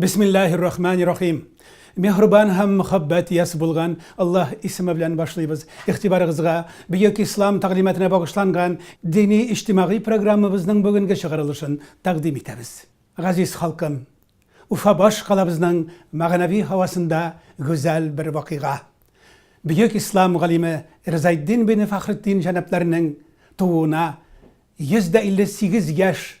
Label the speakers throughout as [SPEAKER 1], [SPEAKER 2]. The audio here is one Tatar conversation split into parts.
[SPEAKER 1] Бисмиллаһир рахманир рахим. Миһрбан һәм мөхәббәт иясе булган Аллаһ исеме белән башлыйбыз. Игътибарыгызга Бөек Ислам тәгълиматына багышланган дини-иҗтимагый программабызның бүгенге чыгарылышын тәкъдим итәбез. Газиз халкым! Уфа баш калабызның мәгънәви һавасында гүзәл бер вакыйга. Бөек Ислам галиме Ризаэтдин бине Фәхретдин җәнапларының тууына 158 яшь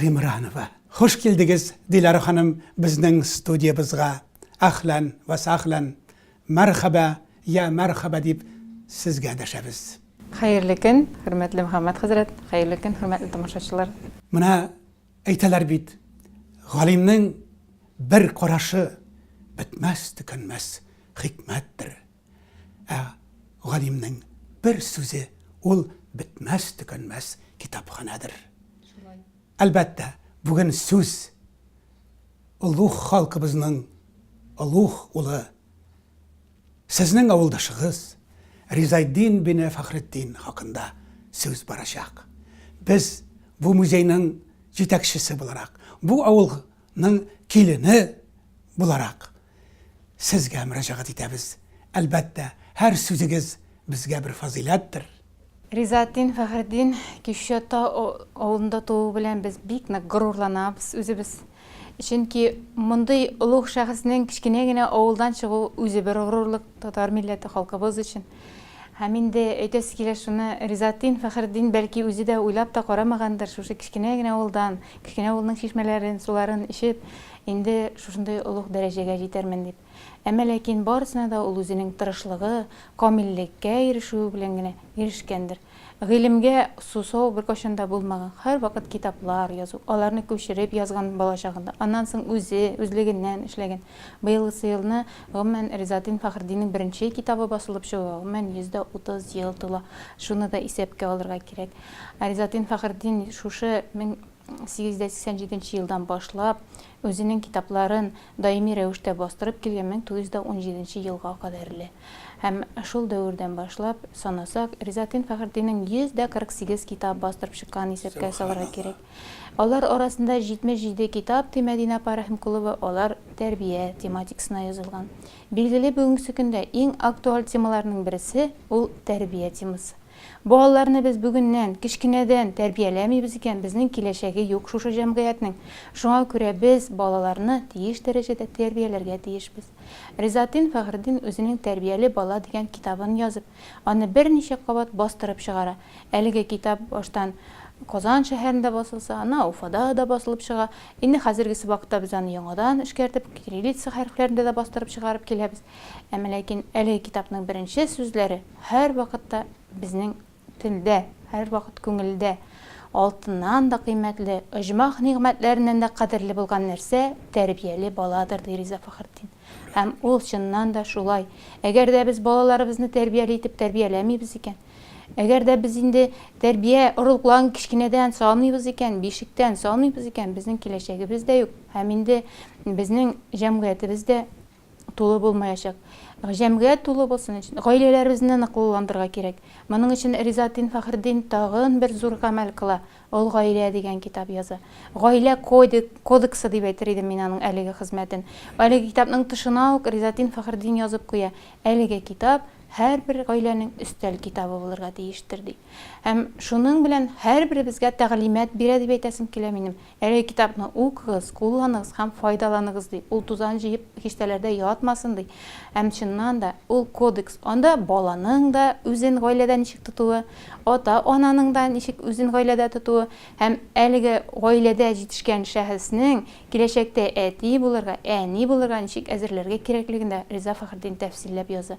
[SPEAKER 1] Гимранова. Хуш килдегез, Диләрә ханым, безнең студиябызга. Әхлән вә сәхлән. Мәрхәбә, йә мәрхәбә дип сезгә дәшәбез. Хәерле көн,
[SPEAKER 2] хөрмәтле Мөхәммәт хәзрәт! Хәерле көн, хөрмәтле тамашачылар! Менә
[SPEAKER 1] әйтәләр бит, галимнең бер карашы бетмәс-төкәнмәс хикмәттер. Ә галимнең бер сүзе ул бетмәс-төкәнмәс китапханәдер. Шулай. Әлбәттә, бүген сүз олуг халкыбызның олуг улы, сезнең авылдашыгыз Ризайдин бин Фахретдин хакында сүз барачак. Без бу музейның җитәкчесе буларак, бу авылның килене буларак, Сезгә мөрәҗәгать итәбез. Әлбәттә, һәр сүзегез безгә бер фазыйләттер. Ризаэтдин
[SPEAKER 2] Фәхретдин Кишче Тау авылында тууы белән без бик нык горурланабыз үзебез. Чөнки мондый олуг шәхеснең кечкенә генә авылдан чыгуы үзе бер горурлык татар милләте, халкыбыз өчен. Һәм инде әйтәсе килә шуны, Ризаэтдин Фәхретдин бәлки үзе дә уйлап та карамагандыр, шушы кечкенә генә авылдан, кечкенә авылның чишмәләрен, суларын эчеп, Инде шушындый олуг дәрәҗәгә җитәрмен дип. Әмма ләкин барысына да ул үзенең тырышлыгы, камиллеккә ирешүе белән генә ирешкәндер. Гыйлемгә сусау беркайчан да булмаган, һәрвакыт китаплар язу, аларны күчереп язган балачагында, аннан соң үзе, үзлегеннән эшләгән. Быелгысы елны, гомумән, Ризаэтдин Фәхретдиннең беренче китабы басылып чыгуга, гомумән, 130 ел тула. Шуны да исәпкә алырга кирәк. Ризаэтдин Фәхретдин шушы мең. 887 нче елдан башлап үзенең китапларын даими рәвештә бастырып килгән 1917 елга кадәрле һәм шул дәвердән башлап санасак, Ризатин Фәхретдиннең 148 китап бастырып чыкканын исәпкә салырга кирәк. Алар арасында 77 китап, ди Мәдинә апа Рәхимкулова, алар тәрбия тематикасына язылган. Билгеле, бүгенгесе көндә иң актуаль темаларның берсе, ул тәрбия темасы. Балаларны без бүгеннән, кечкенәдән, тәрбияләмибез икән, безнең киләчәге юк шушы җәмгыятьнең. Шуңа күрә без балаларны тиеш дәрәҗәдә тәрбияләргә тиешбез. Ризатдин Фәхретдин үзенең Тәрбияле бала дигән китабын язып, аны берничә кабат бастырып чыгара. Әлеге китап баштан Казан шәһәрендә басылса, аннан Уфада да басылып чыга. Инде хәзергесе вакытта без аны яңадан эшкәртеп, кириллица хәрефләрендә дә бастырып чыгарып киләбез. Әмма ләкин әлеге китапның беренче сүзләре, Һәрвакытта безнең телдә, һәрвакыт күңелдә алтыннан да кыйммәтле, оҗмах нигъмәтләреннән дә кадерле булган нәрсә, тәрбияле баладыр, ди Риза Фәхретдин. Һәм ул чыннан да шулай. Әгәр дә без балаларыбызны тәрбияле итеп тәрбияләмибез икән, әгәр дә без инде тәрбия орлыкларын кечкенәдән салмыйбыз икән, бишектән салмыйбыз икән, безнең киләчәгебез дә юк һәм инде безнең җәмгыятебез дә, тулы булмаячак. Җәмгыять тулы булсын өчен, гаиләләребезне ныклыландырырга кирәк. Моның өчен Ризаэтдин Фәхретдин тагын бер зур гамәл кыла, ул Гаилә дигән китап яза. Гаилә кодексы дип әйтер идем мин аның әлеге хезмәтен. Әлеге китапның тышына ук Ризаэтдин Фәхретдин язып куя, әлеге китап һәрбер гаиләнең өстәл китабы булырга тиештер, ди. Һәм шуның белән һәрберебезгә тәгълимат бирә дип әйтәсем килә минем. Әлеге китапны укыгыз, кулланыгыз һәм файдаланыгыз, ди. Ул тузан җыеп киштәләрдә ятмасын, ди. Һәм, чыннан да, ул кодекс. Анда баланың да үзен гаиләдә ничек тотуы, ата-ананың да ничек үзен гаиләдә тотуы һәм әлеге гаиләдә җитешкән шәхеснең киләчәктә әти булырга, әни булырга ничек әзерләргә кирәклеген дә Риза Фәхретдин тәфсилләп яза.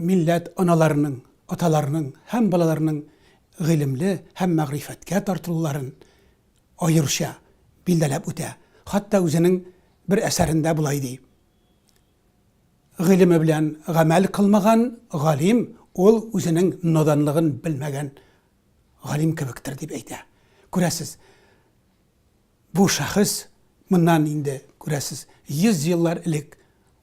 [SPEAKER 1] Милләт аналарының, аталарының һәм балаларының гыйлемле һәм мәгърифәткә тартылуларын аеруча билдәләп үтә, хатта үзенең бер әсәрендә болай ди, Гыйлеме белән гамәл кылмаган галим ул үзенең наданлыгын белмәгән галим кебектер, дип әйтә. Күрәсез. Бу шәхес моннан инде, күрәсез, 100 еллар элек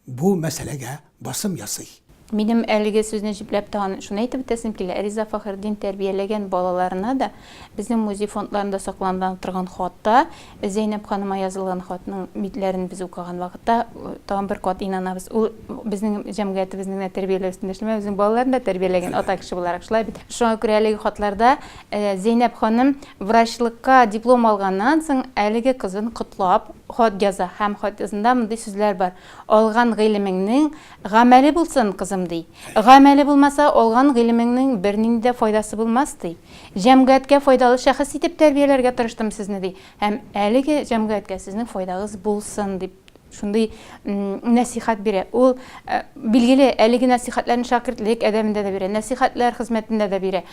[SPEAKER 1] бу мәсьәләгә басым ясый. Минем әлеге
[SPEAKER 2] сүзне җөпләп тагын шуны әйтеп үтәсем килә, Риза Фәхретдин тәрбияләгән балаларына да безнең музей фондларында саклана торган хатта Зәйнәп ханыма язылган хатның митләрен без укыган вакытта тагын бер кат инанабыз. Ул безнең җәмгыятебезнең генә тәрбияләү өстендә эшләмәгән, үзенең балаларын да тәрбияләгән ата кеше буларак, шулай бит? Шуңа күрә әлеге хатларда Зәйнәп ханым врачлыкка диплом алганнан соң әлеге кызын котлап хат яза һәм хатызында мондый сүзләр бар, Алган гыйлемеңнең гамәле булсын, кызым, ди. Гамәле булмаса, алган гыйлемеңнең бернинди дә файдасы булмас, ди. Җәмгыятькә файдалы шәхес итеп тәрбияләргә тырыштым сезне, ди, һәм әлеге җәмгыятькә сезнең файдагыз булсын, дип Шундый нәсихәт бирә. Ул, билгеле, әлеге нәсихәтләрне шәкертлек әдәбендә дә бирә, нәсихәтләр хезмәтендә дә бирә.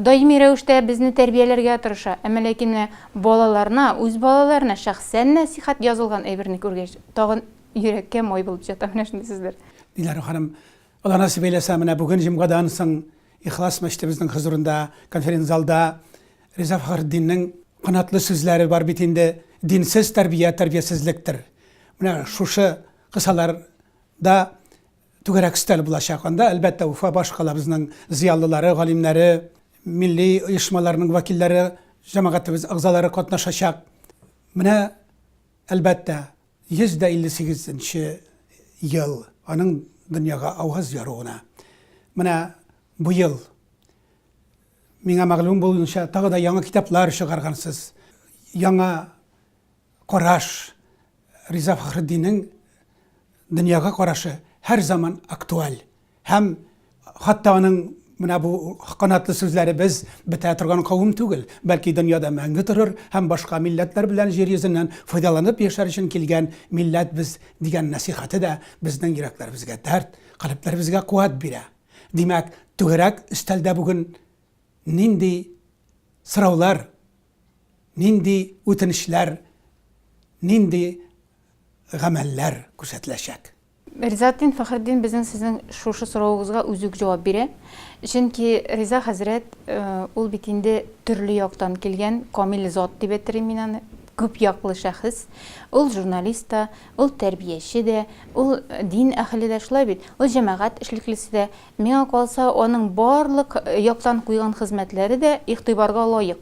[SPEAKER 2] Даими рәвештә безне тәрбияләргә тырыша. Әмма ләкин менә балаларына, үз балаларына шәхсән нәсихәт язылган әйберне күргәч, тагын йөрәккә май булып җыта менә шундый сүзләр. Диләрә ханым,
[SPEAKER 1] Алла насыйп әйләсә, менә бүген җомгадан соң Ихлас мәчетебезнең хозурында, конференц-залда Риза Фәхретдиннең канатлы сүзләре бар бит инде, Динсез тәрбия тәрбиясезлектер. Менә шушы кысалар да түгәрәк өстәл булачак. Анда, әлбәттә, Уфа башкалабызның зыялылары, галимнәре, милли оешмаларның вәкилләре, җәмәгатебез әгъзалары катнашачак. Менә, әлбәттә, 158 нче ел аның дөньяга аваз яруына. Менә бу ел Миңа мәгълүм булуынча, тагы да яңа китаплар чыгаргансыз. Яңа караш, Риза Фәхретдиннең дөньяга карашы һәр заман актуаль. Һәм хатта аның менә бу канатлы сүзләре без бетә торган кавым түгел, бәлки дөньяда мәңге торыр һәм башка милләтләр белән җир йөзеннән файдаланып яшәр өчен килгән милләт без дигән нәсыйхәте дә безнең йөрәкләребезгә дәрт, калебләребезгә куәт бирә. Димәк, түгәрәк өстәлдә бүген нинди сораулар, нинди үтенечләр, нинди гамәлләр күрсәтеләчәк? Ризатдин
[SPEAKER 2] Фәхретдин безнең сезнең шушы соравыгызга үзе үк җавап бирә. Чөнки Риза хәзрәт э, ул бит инде төрле яктан килгән камил зат дип әйтермен мин аны, күп яклы шәхес. Ул журналист та, Ул тәрбияче дә, ул дин әһеле дә, шулай бит? Ул җәмәгать эшлеклесе дә. Миңа калса, аның барлык яктан куйган хезмәтләре дә игътибарга лаек.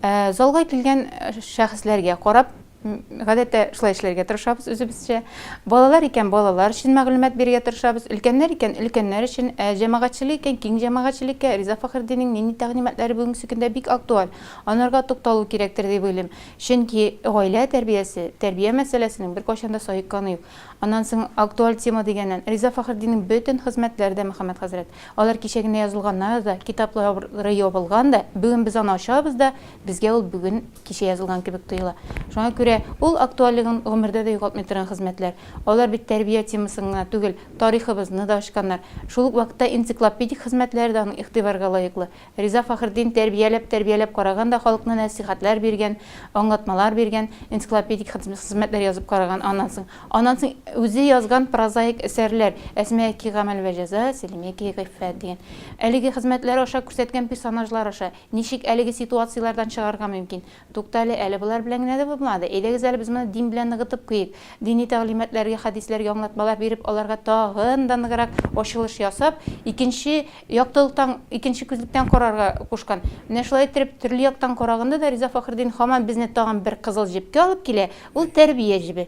[SPEAKER 2] Ә залга килгән шәхесләргә карап, гадәттә, шулай эшләргә тырышабыз үзебезчә. Балалар икән, балалар өчен мәгълүмат бирергә тырышабыз, өлкәннәр икән, өлкәннәр өчен, ә җәмәгатьчелек икән, киң җәмәгатьчелеккә Риза Фәхретдиннең нинди тәкъдиматлары бүгенге көнгә бик актуаль, анарга тукталу кирәктер дип уйлыйм. Чөнки гаилә тәрбиясе, тәрбия мәсьәләсенең беркайчан да саекканы юк. Аннан соң актуаль тема дигәннән, Риза Фәхретдиннең бөтен хезмәтләре дә, Мөхәммәд хәзрәт. Алар кичә генә язылганнар да, китаплары ябылган да, бүген без аны ачабыз да, безгә ул бүген, кичә язылган кебек тоела. Шуңа күрә ул актуальлеген гомердә дә югалтмый торган хезмәтләр. Алар бит тәрбия темасын гына түгел, тарихыбызны да ачканнар. Шул ук вакытта энциклопедик хезмәтләре дә аның игътибарга лаеклы. Риза Фәхретдин тәрбияләп-тәрбияләп караган да халыкны нәсыйхәтләр биргән, аңлатмалар биргән, энциклопедик хезмәтләр язып караган, аннан соң, аннан соң үзе язган прозаик әсәрләр, Әсмәки гамәл вә җәза, Сәлимәки гыйффәт дигән. Әлеге хезмәтләр аша күрсәткән персонажлар аша, ничек әлеге ситуацияләрдән чыгарга мөмкин, Туктале әле, болар белән генә дә булмады. Әйдәгез әле без моны дин белән ныгытып куйыйк. Дини тәгълиматларга, хәдисләргә аңлатмалар биреп, аларга тагын да ныграк ачылыш ясап, икенче яктылыктан, икенче күзлектән карарга кушкан. Менә шулай иттереп, төрле яктан караганда да Риза Фәхретдин һаман безне тагын бер кызыл җепкә алып килә, ул тәрбия җебе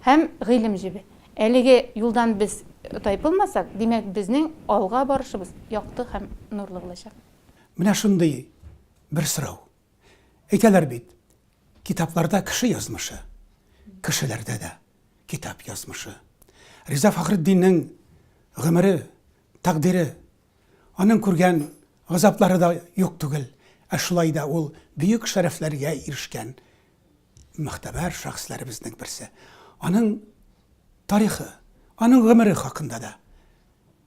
[SPEAKER 2] һәм гыйлем җебе. Әлеге юлдан без тайпылмасак, димәк, безнең алга барышыбыз якты һәм нурлы булачак. Менә шундый
[SPEAKER 1] бер сорау. Әйтәләр бит, китапларда кеше язмышы, кешеләрдә дә китап язмышы. Риза Фахретдиннең гомере, тәкъдире, аның күргән газаплары да юк түгел. Ә шулай да ул бөек шәрәфләргә ирешкән мөхтәбәр шәхесләребезнең берсе. Аның тарихы, аның гомере хакында да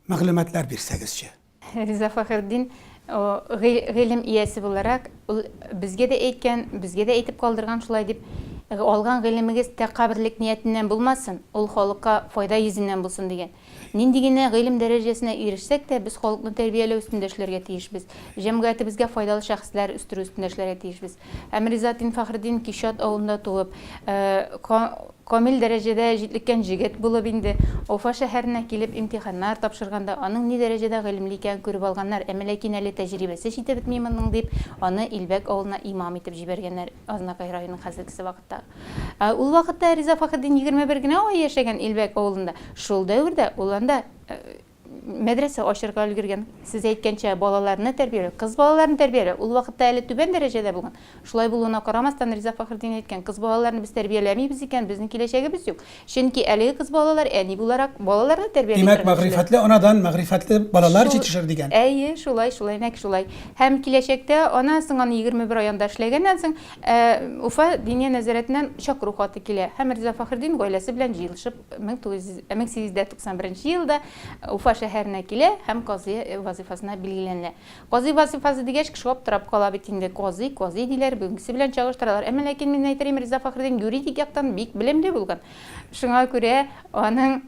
[SPEAKER 1] мәгълүматлар бирсәгезче. Риза Фәхертдин
[SPEAKER 2] гыйлем иясе буларак, ул безгә дә әйткән, безгә дә әйтеп калдырган шулай дип, Алган гыйлемегез тәкабберлек ниятеннән булмасын, ул халыкка файда йөзеннән булсын, дигән. Нинди генә гыйлем дәрәҗәсенә ирешсәк тә, без халыкны тәрбияләү өстендә эшләргә тиешбез, җәмгыятебезгә файдалы шәхесләр үстерү өстендә эшләргә тиешбез. Һәм Риза дин Фәхретдин Кичат авылында туып, Камил дәрәҗәдә җитлеккән җегет булып инде Уфа шәһәренә килеп имтиханнар тапшырганда, аның ни дәрәҗәдә гыйлемле икәнен күреп алганнар, әмма ләкин әле тәҗрибәсе җитеп бетми моның дип, аны Илбәк авылына имам итеп җибәргәннәр, Азнакай районының хәзергесе вакыттагы. Ә ул вакытта Риза Фахетдин егерме бер генә ай яшәгән Илбәк авылында, шул дәвердә ул анда, Мәдрәсә ачырга өлгергән. Сез әйткәнчә, балаларны тәрбияләү, кыз балаларны тәрбияләү, ул вакытта әле түбән дәрәҗәдә булган. Шулай булуына карамастан, Риза Фәхретдин әйткән, кыз балаларны без тәрбияләмибез икән, безнең киләчәгебез юк. Чөнки әлеге кыз балалар әни буларак, балаларны тәрбияли торган кешеләр. Димәк, мәгърифәтле анадан
[SPEAKER 1] мәгърифәтле балалар җитешер дигән. Әйе, шулай, шулай,
[SPEAKER 2] нәкъ шулай. Һәм киләчәктә ана соң аны егерме бер ай анда эшләгәннән соң, Уфа Диния нәзарәтеннән чакыру хаты килә, һәм Риза Фәхретдин гаиләсе белән җыелышып, 1891 елда Уфа шәһәренә килә һәм казый вазыйфасына билгеләнә. Казый вазыйфасы дигәч, кеше аптырап кала бит инде, казый, казый диләр, бүгенгесе белән чагыштыралар. Әмма ләкин мин әйтерим, Риза Фәхреддин юридик яктан бик белемле булган. Шуңа күрә аның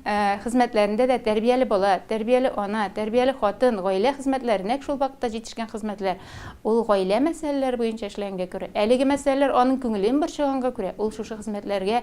[SPEAKER 2] хезмәтләрендә дә тәрбияле бала, тәрбияле ана, тәрбияле хатын, гаилә хезмәтләре, нәкъ шул вакытта җитешкән хезмәтләр. Ул гаилә мәсьәләләре буенча эшләгәнгә күрә, әлеге мәсьәләләр аның күңелен борчыганга күрә, ул шушы хезмәтләргә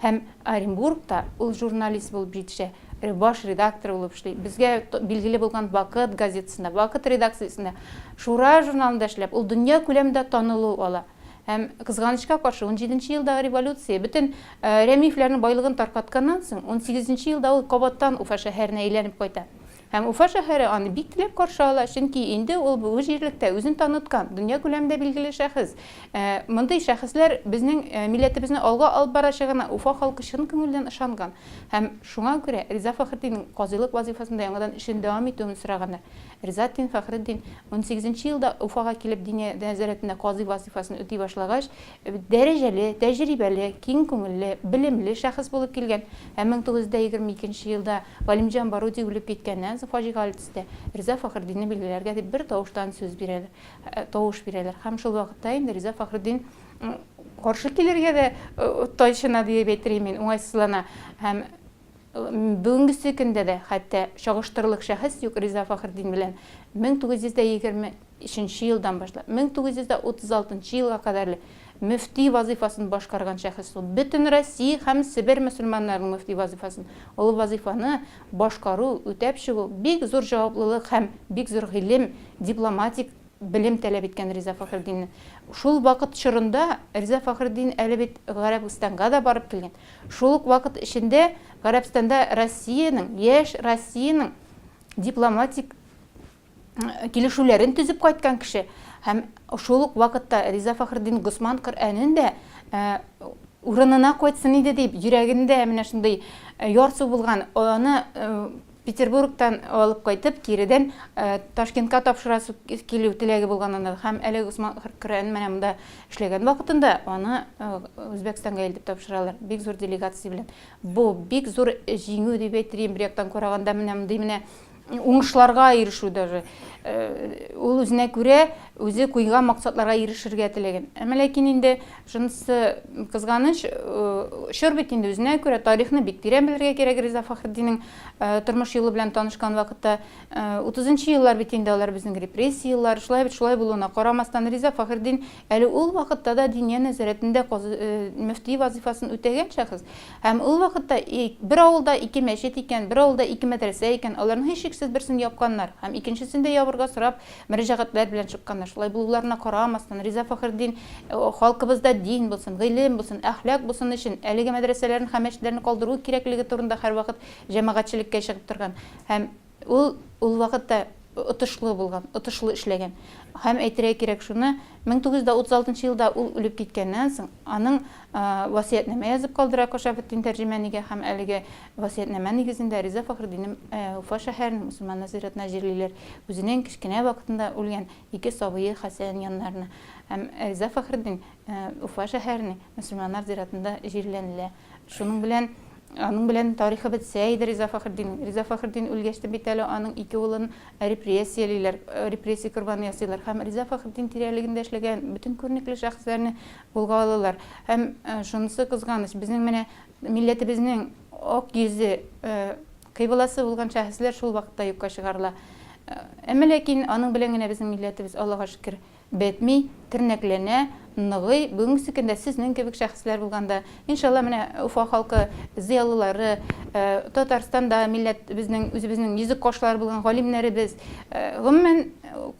[SPEAKER 2] Һәм Оренбургта ул журналист булып җитешә, баш редактор булып эшли. Безгә билгеле булган Вакыт газетасында, Вакыт редакциясендә, Шура журналында эшләп, ул дөнья күләмендә танылу ала. Һәм, кызганычка каршы, унҗиденче елдагы революция, бөтен Рәмиевләрнең байлыгын таркатканнан соң, унсигезенче елда ул кабаттан Уфа шәһәренә әйләнеп кайта. Һәм Уфа шәһәре аны бик теләп каршы ала, чөнки инде ул бу җирлектә үзен таныткан, дөнья күләмендә билгеле шәхес. Мондый шәхесләр безнең милләтебезне алга алып барачагына Уфа халкы чын күңелдән ышанган һәм шуңа күрә Риза Фәхретдиннең казыйлык вазыйфасында яңадан эшен дәвам итүен сораганнар. Риза ад-Дин Фәхретдин унсигезенче елда Уфага килеп диния нәзарәтендә казый вазыйфасын үти башлагач, дәрәҗәле, тәҗрибәле, киң күңелле, белемле шәхес булып килгән һәм мең тугыз йөз дә егерме икенче елда Галимҗан Баруди үлеп киткәннән соң фаҗигале төстә, Риза Фәхретдинне билгеләргә дип бер тавыштан сүз бирәләр, тавыш бирәләр һәм шул вакытта инде Риза Фәхретдин каршы килергә дә тайчына диеп әйтер идем мин, уңайсызлана һәм бүгенгесе көндә дә хәтта чагыштырырлык шәхес юк Риза Фәхретдин белән 1920 Өченче елдан башлап, 1936 елга кадәрле мөфти вазыйфасын башкарган шәхес ул. Бөтен Россия һәм Себер мөселманнарының мөфти вазыйфасын, олы вазыйфаны башкару, үтәп чыгу бик зур җаваплылык һәм бик зур гыйлем, дипломатик белем таләп иткән Риза Фәхретдинне. Шул вакыт чорында Риза Фәхретдин әле бит Гарәбстанга да барып килгән. Шул ук вакыт эчендә Гарәбстанда Россиянең, яшь Россиянең дипломатик. килешүләрен төзеп кайткан кеше һәм шул ук вакытта Риза Фахрдин Госман Коръәнен дә урынына кайтсын иде дип, йөрәгендә менә шундый э, ярсу булган, аны э, Петербургтан алып кайтып, киредән э, Ташкентка тапшырасы килү теләге булган анда. Һәм әле Усман Хөркүрән менә монда эшләгән вакытында аны Үзбәкстанга илтеп тапшыралар. Бик зур делегация белән. Бу бик зур җиңү дип әйтер, бер яктан караганда менә мондый менә уңышларга ирешү даже. Ул үзенә күрә үзе куйган максатларга ирешергә теләгән. Әмма ләкин инде шунысы кызганыч, чор бит инде үзенә күрә тарихны бик тирән белергә кирәк Риза Фахретдинның тормыш юлы белән танышкан вакытта. 30 нчы еллар бит инде алар безнең репрессия еллары. Шулай бит, шулай булуына карамастан, Риза Фахретдин Әле ул вакытта да Диния нәзарәтендә мөфти вазыйфасын үтәгән шәхес. Һәм ул вакытта бер авылда ике мәчет икән, бер авылда ике мәдрәсә икән, аларның һичшиксез берсен япканнар һәм икенчесен дә ябырга сорап мөрәҗәгатьләр белән чыкканнар. Шулай булуларына карамастан, Риза Фәхретдин халкыбызда дин булсын, гыйлем булсын, әхлак булсын өчен әлеге мәдрәсәләрне һәм мәчетләрне калдыру кирәклеге турында һәрвакыт җәмәгатьчелеккә чыгып торган һәм Ул ул вакытта отышлы булган, отышлы эшләгән. Һәм әйтергә кирәк шуны, 1936 елда ул үлеп киткәннән соң, аның васыятьнамә язып калдыра Кошафетдин тәрҗемәнигә һәм әлеге васыятьнамә нигезендә Риза Фәхретдинне Уфа шәһәренең мөселманнар зиратына җирлиләр, үзенең кечкенә вакытында үлгән ике сабые Хәсән яннарына. Һәм Риза Фәхретдин Уфа шәһәренең мөселманнар зиратында җирләнелә. Шуның белән аның белән тарихы бетсә иде Риза Фәхретдиннең. Риза Фәхретдин үлгәч тә бит әле аның ике улын репрессиялиләр, репрессия корбаны ясыйлар һәм Риза Фәхретдин тирәлегендә эшләгән бөтен күренекле шәхесләрне кулга алалар. Һәм шунысы кызганыч, безнең менә милләтебезнең ак йөзе, кыйбласы булган шәхесләр шул вакытта юкка чыгарыла. Әмма ләкин аның белән генә безнең милләтебез, Аллага шөкер, Бетми, тернәкләнә, ныгый, бүгенгесе көндә сезнең кебек шәхесләр булганда, иншалла, менә Уфа халкы зыялылары, Татарстанда милләтебезнең, үзебезнең йөзек кашлары булган галимнәребез, гомумән,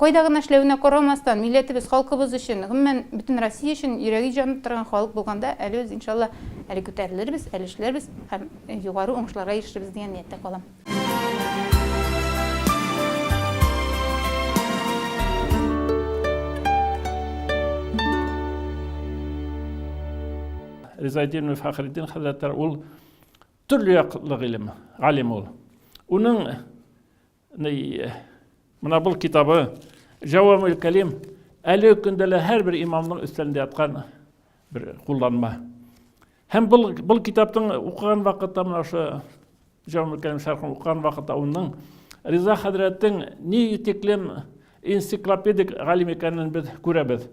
[SPEAKER 2] кайда гына эшләвенә карамастан, милләтебез, халкыбыз өчен, гомумән, бөтен Россия өчен йөрәге җаны торган халык булганда, әле без, иншалла, әле күтәрелербез, әле эшләрбез һәм югары уңышларга ирешербез дигән нияттә калам.
[SPEAKER 3] Ризайдин Фахриддин хәзрәтләр ул төрле яклы гыйлем, алим ул. Уның ни менә бу китабы Җавамул Калим әле көндә лә һәрбер имамның өстәлендә яткан бер кулланма. Һәм бул, бул китаптың укыган вакытта менә ошо Җамил Кәрим шәрхен укыган вакытта уның Риза хәзрәтнең ни тиклем энциклопедик галим икәнен без күрәбез.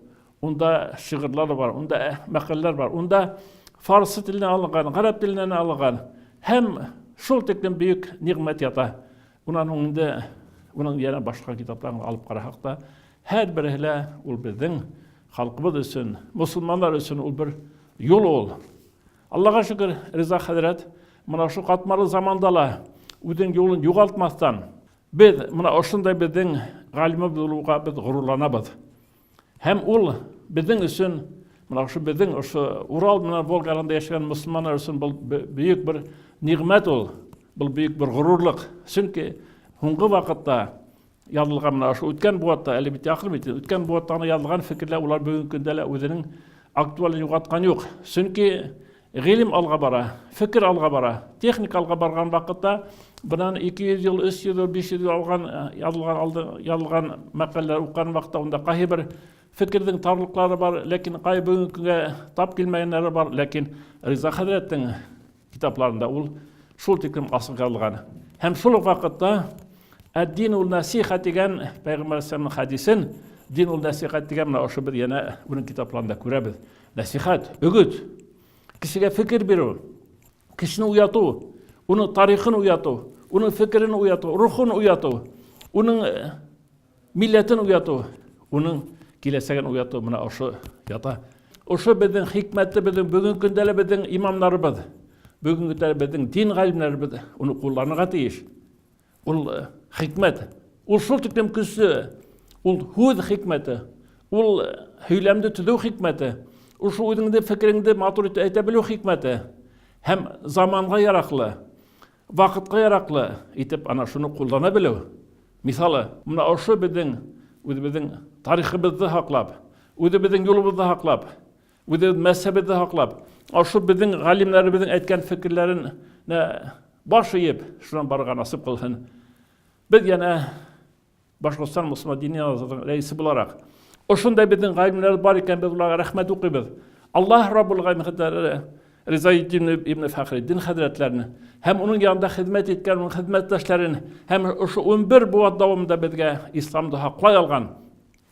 [SPEAKER 3] Унда шигырьләр бар, унда э, мәкаләләр бар, унда фарсы теленнән алынган, гарәп теленнән алынган һәм шул тиклем бөек нигъмәт ята. Унан һуң инде уның яна башка китапларын алып карасак та, һәр берсе лә ул безнең халкыбыз өчен, мусулманнар өчен ул бер юл ул. Аллага шөкер, Риза хәзрәт мына шу катмарлы заманда ла үзенең юлын югалтмастан, без мына ошындай безнең галимыбыз булуга без горурланабыз. Һәм ул безнең өчен, менә шушы безнең шушы Урал менә Волгарында яшәгән мусламаннар өчен бу бөек бер нигъмәт ул. Бу бөек бер горурлык. Чөнки һуңгы вакытта язылган менә шушы үткән буатта, әле бит якын бит, үткән буатта гына язылган фикерләр улар бүгенге көндә лә үзенең актуален югалткан юк. Чөнки Гыйлем алга бара, фекер алга бара. Техника алга барган вакытта, бынан 200 ел, 300 ел, 500 ел алган язылган алды, язылган мәкаләләр укыган вакытта анда кайбер фикердең тарлыклары бар, ләкин кай бүгенге көнгә тап килмәгәннәре бар, ләкин Риза хәзрәтнең китапларында ул шул тиклем асык язылган. Һәм шул ук вакытта Әддин ул насиха дигән пәйгамбәр хәдисен Дин ул насихат дигән менә ошо без янә уның китапларында күрәбез. Нәсихәт, өгет, кешегә фикер бирү, кешене уяту, уның тарихын уяту, уның фикерен уяту, рухын уяту, уның э, милләтен уяту, уның киләсәген уяту менә ошо ята. Ошо безнең хикмәтле безнең бүгенге көндә безнең имамнарыбыз, бүгенге көндә безнең дин галимнәребез уны кулланырга тиеш. Ул э, хикмәт. Ул шул тиклем көчле. Ул һүз хикмәте. Ул э, һөйләмне төзү хикмәте. Ул шул үзеңне фикереңне матур итеп әйтә белү хикмәте. Һәм заманга яраклы, вакытка яраклы итеп ана шуны куллана белү. Мисалы, менә ошо безнең үзебезнең тарихыбызны хаклап, үзебезнең юлыбызны хаклап, Үзегез мәзһәбегезне һаклап, ашу безнең галимнәребезнең әйткән фикерләрен баш иеп, шуннан барырга насып кылсын. Без яна Башкортстан мусульман дини азатлыгы рәисе буларак, ошундай безнең галимнәр бар икән, без уларга рәхмәт укыйбыз. Аллаһ Раббул Галәмин хәзрәтләре Риза ибн ибн Фәхреддин хәзрәтләрен һәм уның янында хезмәт иткән уның хезмәттәшләрен һәм ошо 11 буат дәвамында безгә исламда хаклай алган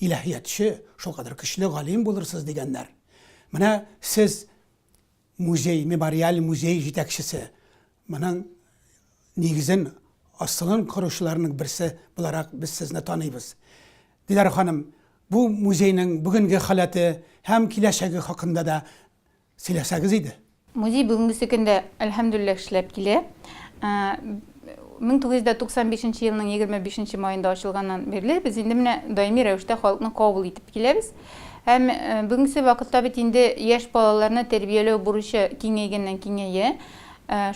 [SPEAKER 1] илаһиятче, шулкадәр көчле галим булырсыз, дигәннәр. Менә сез музей, мемориаль музей җитәкчесе, моның нигезен, асылын коручыларның берсе буларак без сезне таныйбыз. Диләрә ханым, бу музейның бүгенге халәте һәм киләчәге хакында да Сөйләсәгез иде. Музей бүгенгесе
[SPEAKER 2] көндә, әлхәмдүлилләһ, эшләп килә. 1995 нче елның 25 нче маенда ачылганнан бирле без инде менә даими рәвештә халыкны кабул итеп киләбез. Һәм бүгенгесе вакытта бит инде яшь балаларны тәрбияләү бурычы киңәйгәннән-киңәя.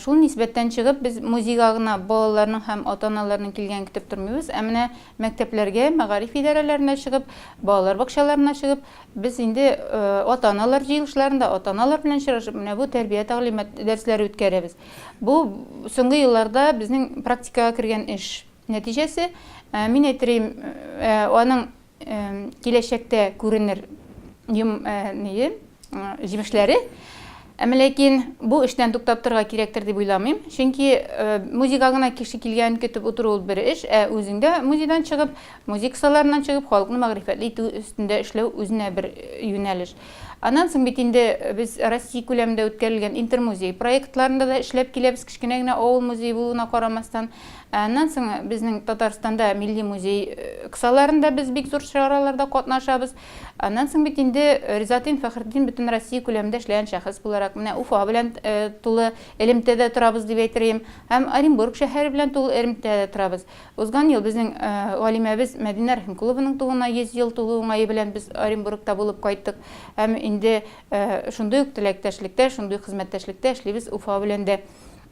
[SPEAKER 2] Шул нисбәттән чыгып, без музейга гына балаларның һәм ата-аналарның килгәнен көтеп тормыйбыз, ә менә Мәктәпләргә, мәгариф идарәләренә чыгып, балалар бакчаларына чыгып, без инде ата-аналар җыелышларында, ата-аналар белән очрашып, менә бу тәрбия-тәгълимат дәресләре үткәрәбез. Бу, соңгы елларда безнең практикага кергән эш нәтиҗәсе. Мин әйтерием, аның киләчәктә күренер йом ние. җимешләре. Әмма ләкин бу эштән туктап торырга кирәктер дип уйламыйм. Чөнки э, музейга гына кеше килгән көтеп утыру ул бер эш, ә үзеңдә музейдан чыгып, музей кысаларыннан чыгып, халыкны мәгърифәтле итү өстендә эшләү үзенә бер э, юнәлеш. Аннан соң бит инде без Россия күләмендә үткәрелгән интермузей проектларында да эшләп киләбез, кечкенә генә авыл музее булуына карамастан. Ә аннан соң безнең Татарстанда милли музей э, кысаларында без бик зур чараларда катнашабыз. Аннан соң бит инде Ризатин Фәхретдин бөтен Россия күләмендә эшләгән шәхес буларак, менә Уфа белән тулы элемтәдә торабыз дип әйтергем, һәм Оренбург шәһәре белән тулы элемтәдә торабыз. Узган ел безнең галимәбез Мәдинә Рәхимкулованың тууына 100 ел тулу уңае белән без Оренбургта булып кайттык һәм инде шундый ук теләктәшлектә, шундый хезмәттәшлектә эшлибез Уфа белән дә.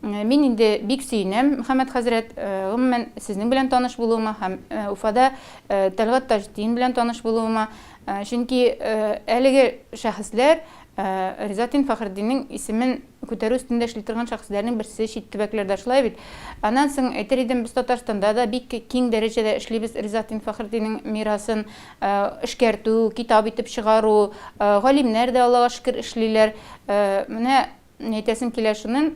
[SPEAKER 2] Мин инде бик сөенәм, Мөхәммәт хәзрәт. Гомумән, сезнең белән таныш булуыма һәм Уфада Тәлгать Таҗетдин белән таныш булуыма. Чөнки әлеге шәхесләр Ризатдин Фәхретдиннең исемен күтәрү өстендә эшли торган шәхесләрнең берсе чит төбәкләрдә, шулай бит? Аннан соң әйтер идем, без Татарстанда да бик киң дәрәҗәдә эшлибез Ризатдин Фәхретдиннең мирасын эшкәртү, китап итеп чыгару. Галимнәр дә, Аллага шөкер, эшлиләр. Менә Әйтәсем килә шуны,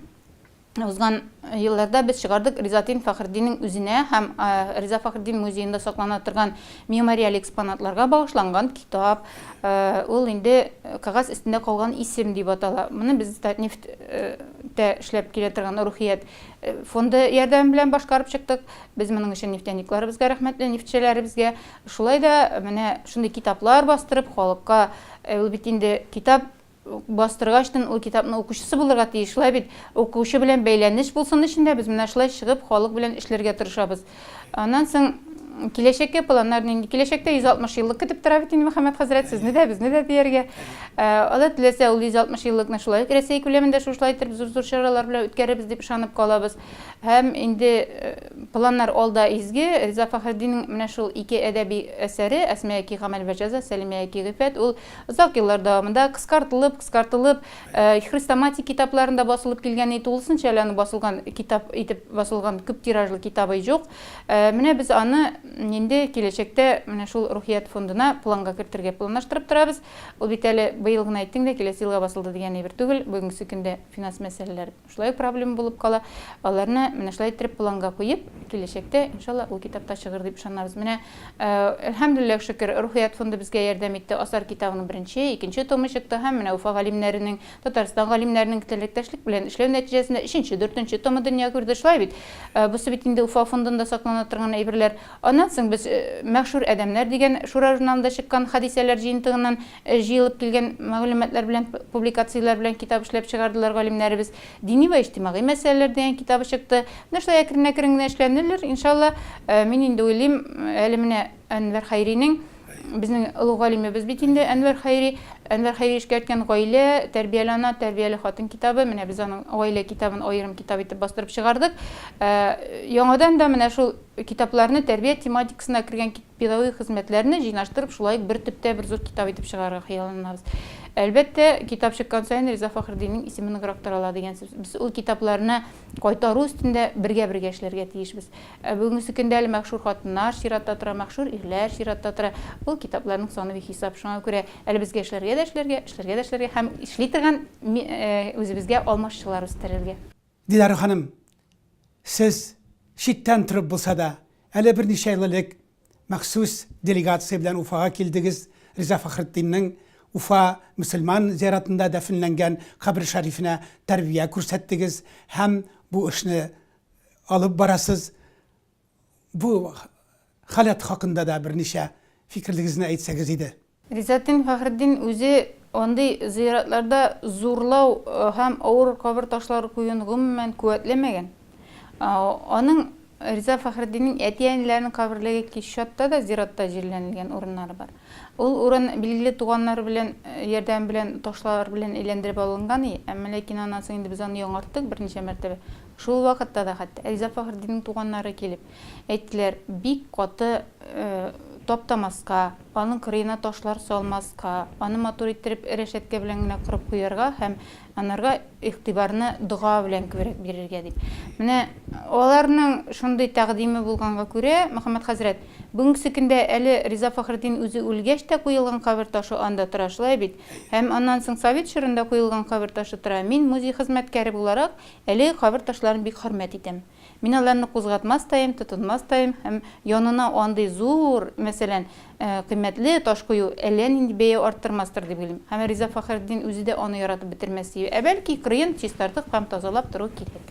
[SPEAKER 2] узган елларда без чыгардык Ризатдин Фәхретдиннең үзенә һәм Риза Фәхретдин музеенда саклана торган мемориаль экспонатларга багышланган китап. Ул инде кәгазь өстендә калган исем дип атала. Моны без Татнефть тә эшләп килә торган Рухият фонды ярдәме белән башкарып чыктык. Без моның өчен нефтяникларыбызга рәхмәтле, нефтьчеләребезгә. Шулай да менә шундый китаплар бастырып, халыкка, ул бит инде китап Бастыргачтын ул китапны укучысы булырга тиеш, шулай бит? Укучы белән бәйләнеш булсын өчен дә без менә шулай чыгып, халык белән эшләргә тырышабыз. Аннан соң, киләчәккә планнар нинди? Киләчәктә 160 еллык көтеп тора бит инде Мөхәммәт хәзрәт, сезне дә, безне дә дияргә. Алла теләсә, ул 160 еллыкны шулай ук Рәсәй күләмендә шушлай итеп зур-зур чаралар белән үткәрербез дип ышанып калабыз. Һәм инде планнар алда изге, Риза Фәхретдиннең менә шул ике әдәби әсәре, Әсмәяки гамәл вә җәза, Сәлимәяки гыйффәт, ул Озак еллар дәвамында кыскартылып, кыскартылып, хрестоматик китапларында басылып килгән и тулысынча әле аны басылган китап итеп басылган күп тиражлы китабы и җук. Менә без аны инде киләчәктә менә шул Рухият фондына планга кертергә планлаштырып торабыз. Ул бит әле быел гына әйттең дә, киләсе елга басылды дигән әйбер түгел, бүгенгесе көндә финанс мәсьәләләр. Шулай ук проблема булып кала. Аларны менә шулай иттереп планга куеп, киләчәктә, иншалла, ул китап та чыгыр дип ышанабыз. Менә, әлхәмдүлилләһ шөкер, Рухият фонды безгә ярдәм итте. Асар китабының беренче, икенче томы чыкты һәм менә Уфа галимнәренең, Татарстан галимнәренең теләктәшлек белән эшләү нәтиҗәсендә өченче, дүртенче томы дөнья күрде. Шулай бит? Бусы бит инде Уфа фондында саклана торган әйберләр. Аннан соң без Мәгъшур адәмнәр дигән Шура журналында чыккан хәдисәләр җыентыгыннан Җыелып килгән мәгълүматлар белән, публикацияләр белән китап эшләп чыгардылар галимнәребез. Дини вә иҗтимагый мәсьәләләр дигән китабы чыкты. Менә шулай әкрен-әкрен генә эшләнелер, иншалла. Мин инде уйлыйм, әле менә Әнвәр Хәйринең, безнең олуг галимебез бит инде Әнвәр Хәйри, Әнвәр Хәйри эшкәрткән Гаилә, тәрбияле ана, тәрбияле хатын китабы, менә без аның Гаилә китабын аерым китап итеп бастырып чыгардык. Яңадан да менә шул китапларны, тәрбия тематикасына кергән Педагогик хезмәтләрне җыйнаштырып, шулай ук бер төптә бер зур китап итеп чыгарырга хыялланабыз. Әлбәттә, китап чыккан саен Риза Фәхретдиннең исеме ныграк тарала дигән сүз. Без ул китапларны кайтару өстендә бергә-бергә эшләргә тиешбез. Ә бүгенгесе көндә әле мәхшүр хатыннар чиратта тора, мәхшүр ирләр чиратта тора. Ул китапларның саны бихисап. Шуңа күрә әле безгә эшләргә дә эшләргә, эшләргә дә эшләргә һәм эшли торган үзебезгә алмашчылар үстерергә. Диләрә ханым,
[SPEAKER 1] сез читтән торып булса да, әле берничә ел элек махсус делегация белән Уфага килдегез, Риза Фәхретдиннең Уфа мөселман зиратында дәфенләнгән кабере шәрифенә тәрбия күрсәттегез һәм бу эшне алып барасыз. Бу халәт хакында да берничә фикерлегезне әйтсәгез иде. Гыйззәтдин Фәхретдин
[SPEAKER 2] үзе андый зыяратларда зурлау һәм авыр кабер ташлары куюны гомумән куәтләмәгән. Аның, Риза Фәхретдиннең әти-әниләренең каберлеге кич чатта да зиратта җирләнелгән урыннары бар. Ул урын билгеле туганнары белән ярдәме белән ташлар белән әйләндереп алынган и, әмма ләкин аннан соң инде без аны яңарттык берничә мәртәбә. Шул вакытта да хәтта Риза Фәхретдиннең туганнары килеп әйттеләр, бик каты таптамаска, Аның кырыена ташлар салмаска, аны матур иттереп рәшәткә белән генә корып куярга һәм анарга игътибарны дога белән күбрәк бирергә, дип. Менә аларның шундый тәкъдиме булганга күрә, Мөхәммәт хәзрәт, бүгенгесе көндә әле Риза Фәхретдин үзе үлгәч тә куелган кабер ташы анда тора, шулай бит? Һәм аннан соң совет чорында куелган кабер ташы тора. Мин, музей хезмәткәре буларак, әлеге кабер ташларын бик хөрмәт итәм. Мин аларны кузгатмас та им, тотынмас та им һәм янына андый зур, мәсәлән, кыйммәтле таш кую әллә нинди бәя арттырмастыр дип уйлыйм. Һәм Риза Фәхретдин үзе дә аны яратып бетермәс дию. Ә бәлки, кырыен чистартып һәм тазалап тору кирәк.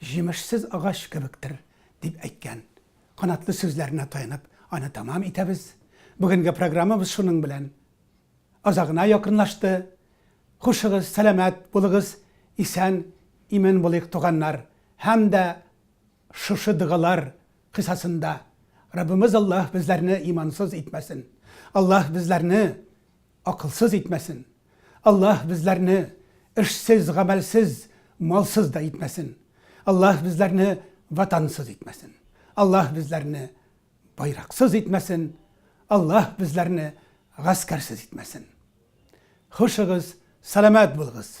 [SPEAKER 1] җимешсез агач кебектер, дип әйткән. Канатлы сүзләренә таянып, аны тәмам итәбез. Бүгенге программабыз шуның белән азагына якынлашты. Хушыгыз, сәламәт булыгыз, исән, имин булыйк, туганнар. Һәм дә шушы догалар кысасында Раббымыз Аллаһ безләрне имансыз итмәсен. Аллаһ безләрне акылсыз итмәсен. Аллаһ безләрне эшсез, гамәлсез, малсыз да итмәсен. Аллаһ безләрне ватансыз итмәсен. Аллаһ безләрне байраксыз итмәсен. Аллаһ безләрне гаскәрсез итмәсен. Хушыгыз, сәламәт булыгыз!